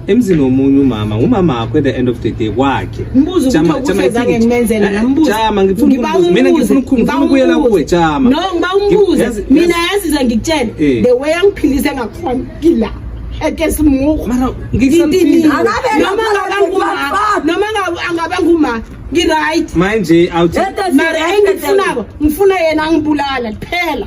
emzini womunye umama ngumama wakho at the end of the day kwakhe mbuzo ukuthi ukusezange ngimenzele nambuzo eh, jama ngifuna ukubuza mina ngifuna ukukhuluma ukuyela kuwe jama no ngiba umbuze mina yaziza ngikutshela eh. the way angiphilise ngakhona kila eke simuko mara ngikutshela noma ngabe nguma noma ngabe angabe nguma ngiright manje awuthi mara engifunako ngifuna yena angibulala kuphela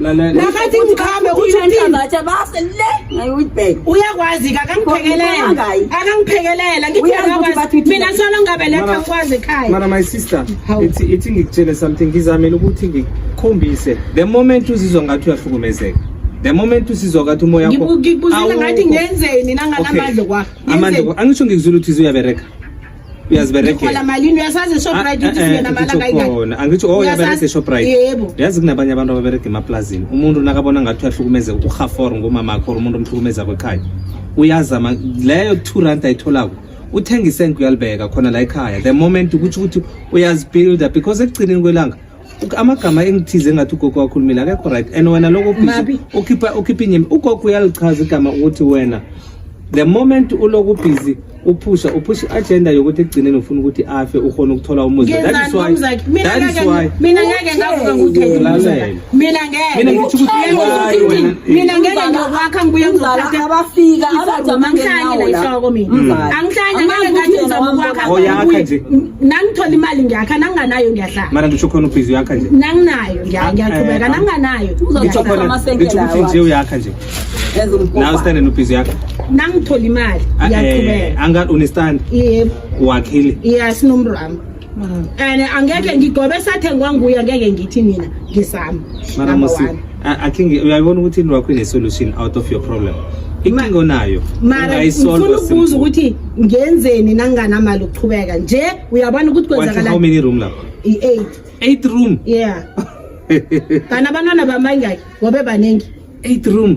nakathi ngiqhame utshinthambatha base le ngayiwitbek uyakwazi ke akangiphekelele akangiphekelele ngithi mina solo ngabeletha ngikwazi ekhaya mara my sister ithi ithi ngikutshele something ngizamele ukuthi ngikhombise the moment uzizwa ngathi uyahlukumezeka the moment usizwa ngathi umoya wakho ngikubuzela ngathi ngenzeni nanganamandla kwakho amandla angisho ngikuzula ukuthi uyabereka uyaziberekela malini uyasazi Shoprite ah, ukuthi eh, singena eh, mala kayikona angithi oh uyabereka Shoprite yebo uyazi kunabanye abantu ababereka emaplazini umuntu nakabona ngathi uyahlukumezeka ukhaforo ngomama akho umuntu omhlukumeza kwekhaya uyazama leyo 2 rand ayitholako uthenga isenke uyalibeka khona la ekhaya the moment ukuthi ukuthi uyazibuilder because ekugcineni kwelanga amagama engithize ngathi ugogo wakhulumile akekho right and wena loko busy ukhipha ukhipha inyemi ugogo uyalichaza igama ukuthi wena the moment uloku busy uphusha uphusha i-agenda yokuthi ekugcineni ufuna ukuthi afe ukhona ukuthola umuzi that is why that is why mina ngeke ngavuka ngudedelalela mina ngeke mina ngithi ukuthi mina ngeke ngiyokwakha ngibuye ngizolala abafika abazomangena la ihloko mina mm. angihlanya ngeke ngathi ngizokwakha oyakha nje nangithola imali ngiyakha nanginganayo ngiyahlala mara ngisho khona ubhizi uyakha nje nanginayo ngiya- Ah, ngiyaqhubeka eh, ah. nanginganayo ngisho uzohlala khona amasenkela ngisho ukuthi nje uyakha nje Yazi nawe umkhoba. stande nobhizi yakho nangithola imali Ah, eh, ngiyaqhubeka angathi unestand yebo wakhile ya sinomrama and angeke ngigobe sathengwa nguye angeke ngithi mina ngisami mara Number musi one. I think uyayibona ukuthi into yakho ine-solution out of your problem inkinga onayo mara ngifuna ukubuza ukuthi ngenzeni nanginganamali ukuqhubeka nje uyabona ukuthi kwenzakala how many room lapho i-eight eight room yeah kana abantwana bamangaki ngobe baningi eight room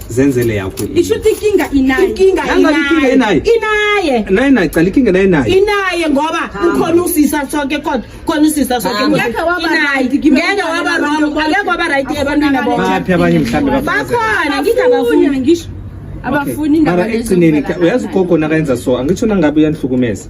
zenzele yakho isho ukuthi inkinga inaye inkinga inaye inaye naye naye cala inkinga naye naye inaye ngoba ukhona usisa sonke kodwa khona usisa sonke ngeke waba right ngeke waba wrong ngeke waba right ebantwini abo baphi abanye mhlambe bakhona ngithi abafuni ngisho abafuni indaba ekugcineni uyazi ugogo nakayenza so angitsho nangabe uyanihlukumeza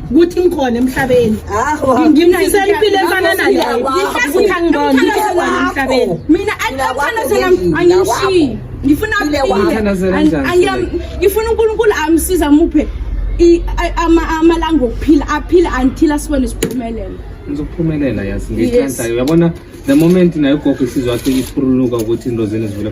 ukuthi ngikhona emhlabeni ngimfisela impilo efana naleyokuthi angibona emhlabeni mina athanazela angishiyi ngifuna ngifuna unkulunkulu amsiza muphe amalanga okuphila aphile until asibone siphumelele ngizokuphumelela yazi ngiyithandayo uyabona the moment nayo ugogo isizwa athi iphuruluka ukuthi into zenu zivula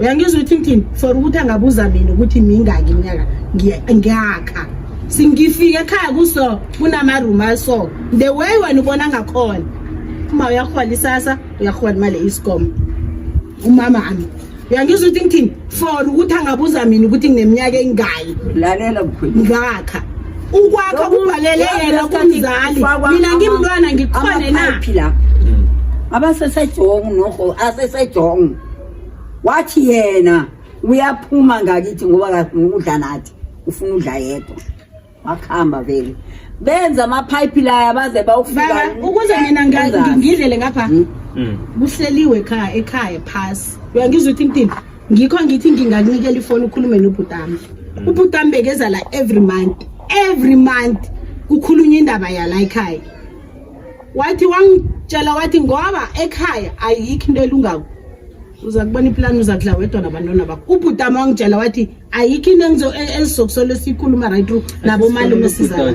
uyangizwa ukuthi ngithini for ukuthi angabuza mina ukuthi mingaki iminyaka ngiyakha singifike ekhaya kuso kunamaroom aso the way wena ubona ngakhona uma uyahola isasa uyahola imali iscom umama ami uyangizwa ukuthi ngithini for ukuthi angabuza mina ukuthi ngineminyaka engayi lalela mkhwethu ngakha ukwakha kubhalele yena kumzali mina ngimntwana ngiqhwane na hmm. abasesejongu noho asesejongu wathi yena uyaphuma ngakithi ngoba udla nathi ufuna udla yedwa wakuhamba vele benza amaphayiphi laya baze bawufika ukuze mina ngidlele ngapha hmm? Hmm. kuhleliwe ekhaya ekhaya phasi uyangizwa ukuthi intini ngikho ngithi ngingakunikela ifoni ukhulume nobhutami mm. ubhutami bekeza la every month every month kukhulunywa indaba yala ekhaya wathi wangitshela wathi ngoba ekhaya ayikho into elungako uza kubona iplan uza kudla wedwa nabantwana bakho ubhutami wangitshela wathi ayikho into engizo e, ezizokusolo esiyikhuluma right through nabo malume sizaa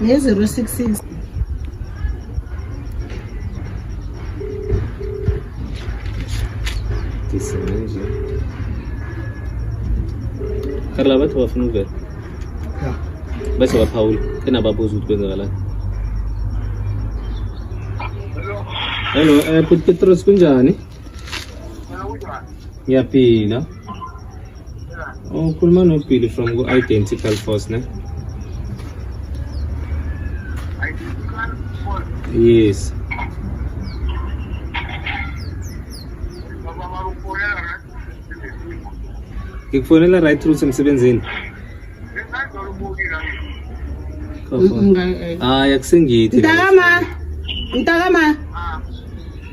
ne 066 Kesinlikle. Karla bathi bafuna ukuvela bese baphawula enababuza ukuthi kwenzakalani hello um eh, bhuti petros kunjani Ngiyaphila. Oh, ukhuluma noBilly from ku-Identical Force, ne? Yes. Ngikufonela right through semsebenzini. hayi akusengithi mntakama mntakama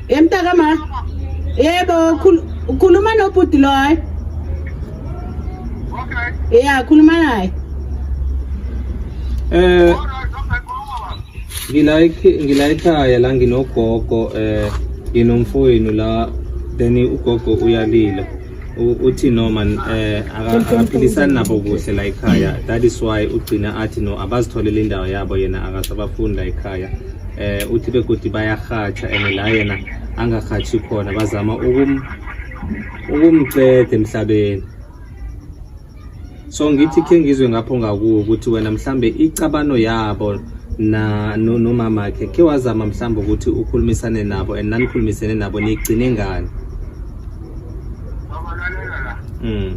ye mntakama yebo ukhuluma nobhuti loyo ya khuluma naye eh ngilayikhe ngilayikhaya la nginogogo eh nginomfowenu la then ugogo uyalila uthi no man eh akaphilisani nabo kuhle la ekhaya that is why ugcina athi no abazitholele indawo yabo yena akasabafuni la ekhaya eh uthi begodi bayarhatsha and la yena angarhatshi khona bazama ukum ukumcede emhlabeni so ngithi khe ngizwe ngapho ngakuwo ukuthi wena mhlambe icabano yabo na nomama khe khe wazama mhlambe ukuthi ukhulumisane nabo and nanikhulumisene nabo nigcine ngani mm.